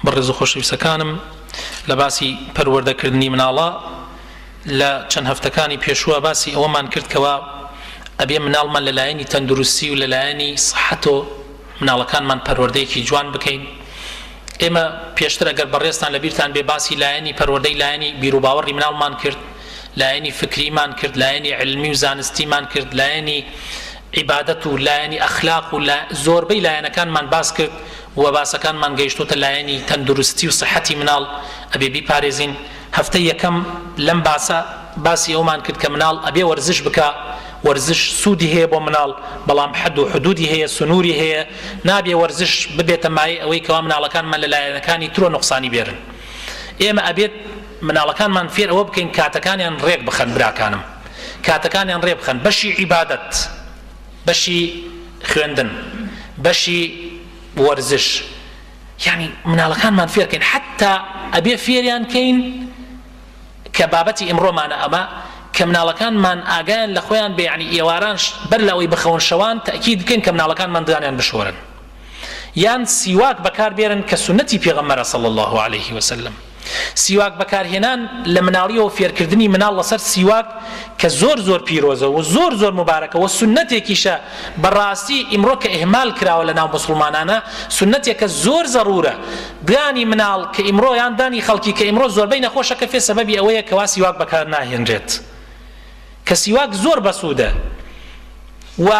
بەڕێز و خۆشەویستەکانم لە باسی پەروەردەکردنی مناڵە لە چەند هەفتەکانی پێشووە باسی ئەوەمان کردکەوە ئەبێ مناڵمان لەلایەنی تەندروستی و لەلایەنی سەحەتۆ مناڵەکانمان پەروەردەیەکی جوان بکەین ئێمە پێشتر ئەگەر بەڕێستان لە بیرتان بێ باسی لایەنی پەروەردەی لایەنی بیرروباوەڕی مناڵمان کرد لایەنی فکریمان کرد لایەنی علمی و زانستیمان کرد لایەنی عیبادەت و لایەنی ئەخلاق و زۆربەی لایەنەکانمان باس کرد و باسەکانمان گەیشتۆتە لایەنی تەندروستی و سحەتی مناڵ ئەبێ بیپارێزین، هەفتەی یەکەم لەم باسە باسی ئەومان کرد کە مناڵ ئەبێ وەرزش بکا، وەرزش سوودی هەیە بۆ مناڵ بەڵام حەد و حدوودی هەیە سنووری هەیە نابێ وەرزش ببێتە مایەی ئەوەی کەوا مناڵەکانمان لە لایەنەکانی ترۆ نوقسانی بێرن ئێمە ئەبێت مناڵەکانمان فێر ئەوە بکەین کاتەکانیان ڕێک بخەن براکانم. کاتەکانیان ڕێ بخەن بەشی عیبادەت بەشی خوێندن بەشی وەرزش یانی مناڵەکانمان فێرکەین حتا ئەبێ فێریان کەین کە بابەتی ئمڕۆمانە ئەمە کە مناڵەکانمان ئاگیان لە خۆیان بێ ینی ئێواران بەر لەوەی بخەون شەوان تاکیید بکەین کە مناڵەکانمان دانیان بشۆرن یان سیواک بەکار بێرن کە سوننەتی پێغەمبەرە صلی اللە علیە وسلم سیواک بەکارهێنان لە مناڵیەوە فێرکردنی مناڵ لەسەر سیواک کە زۆر زۆر پیرۆزە و زۆر زۆر مبارەکە و سوننەتێکیشە بەڕاستی ئیمڕۆ کە ئهمال کراوە لە ناو مسلمانانە سوننەتێکە زۆر زەڕورە دانی مناڵ کە ئیمڕۆ یان دانی خەڵکی کە ئیمڕۆ زۆربەی نەخۆشەکە فێ سەبەبی ئەوەیە کەوا سیواک بەکار ناهێنرێت کە سیواک زۆر بەسوودە و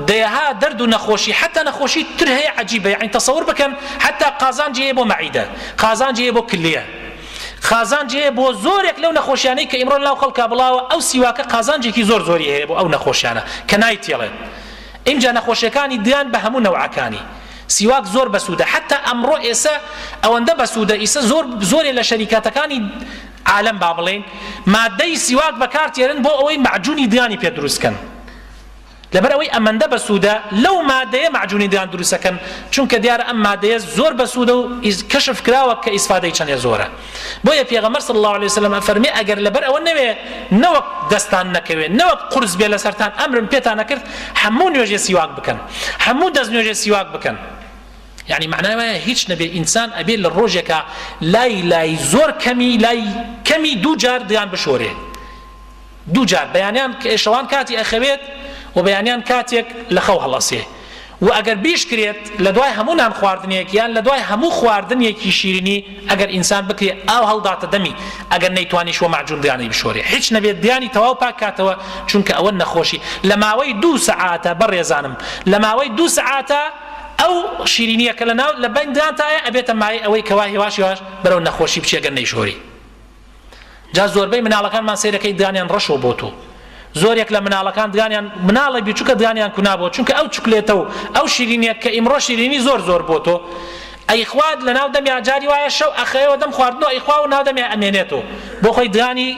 دەیەها دەرد و نەخۆشی حتا نەخۆشی تر هەیە عجیبە یعنی تەسەور بکەن حتا قازانجی هەیە بۆ مەعیدە قازانجی هەیە بۆ کلیە قازانجی هەیە بۆ زۆرێک لەو نەخۆشیانەی کە ئیمڕۆ لەناو خەڵکا بڵاوە ئەو سیواکە قازانجێکی زۆر زۆری هەیە بۆ ئەو نەخۆشیانە کە نایتێڵێت ئینجا نەخۆشیەکانی دیان بە هەموو نەوعەکانی سیواک زۆر بەسوودە حتا ئەمڕۆ ئێسە ئەوەندە بەسوودە ئیسە زۆر زۆرێ لە شەریکاتەکانی عالەم با بڵێین مادەی سیواک بەکار تێرن بۆ ئەوەی مەعجونی دانی پێ دروست کەن لەبەر ئەوەی ئەمەندە بەسوودە لەو مادەیە مەعجونی دان دروستەکەن چونکە دیارە ئەم مادەیە زۆر بەسوودە و کەشف کراوە کە ئیسفادەی چەندێ زۆرە بۆیە پێغەمبەر صلی الله علیه وسلم فەرمی ئەگەر لەبەر ئەوە نەوێ نەوەک دەستان نەکەوێ نەوەک قرس بێ لەسەرتان ئەمرم پێتان نەکرد هەموو نوێژێ سیواک بکەن هەموو دەست نوێژێ سیواک بکەن یانی مەعنای وایە هیچ نەبێ ئینسان ئەبێ لە ڕۆژێکا لای لای زۆر کەمی لای کەمی دوو جار دیان بشۆرێ دوو جار بەیانیان شەوان کاتی ئەخەوێت و بەیانیان کاتێک لە خەو هەڵەسێ و ئەگەر بیشکرێت لە دوای هەموو نان خواردنێک یان لە دوای هەموو خواردنێکی شیرینی ئەگەر ئینسان بکرێ ئاو هەڵداتە دەمی ئەگەر نەیتوانیش وە مەعجون دیانەی بشۆرێ هیچ نەبێت دیانی تەواو پاکاتەوە چونکە ئەوە نەخۆشی لە ماوەی دوو سەعاتە بەڕێزانم لە ماوەی دوو سەعاتە ئەو شیرینیە کە لە ناو لە بەین دانتایە ئەبێتە مایەی ئەوەی کەوا هێواش هێواش بەرەو نەخۆشی بچی گەر نەیشۆری جا زۆربەی مناڵەکانمان سەیرەکەی دانیان ڕەشەوە بۆتو زۆرێک لە مناڵەکان دانیان مناڵی بیچوکە دانیان کونابووە چونکە ئەو چکلێتە و ئەو شیرینیە کە ئیمڕۆ شیرینی زۆر زۆر بۆ تۆ ئەی خوات لە ناو دەمیا جاری وایە شەو ئەخەوێەوە دەم خواردنەوە ئەیخوا و ناو دەمیا ئەمێنێتەوە بۆ خۆی دانی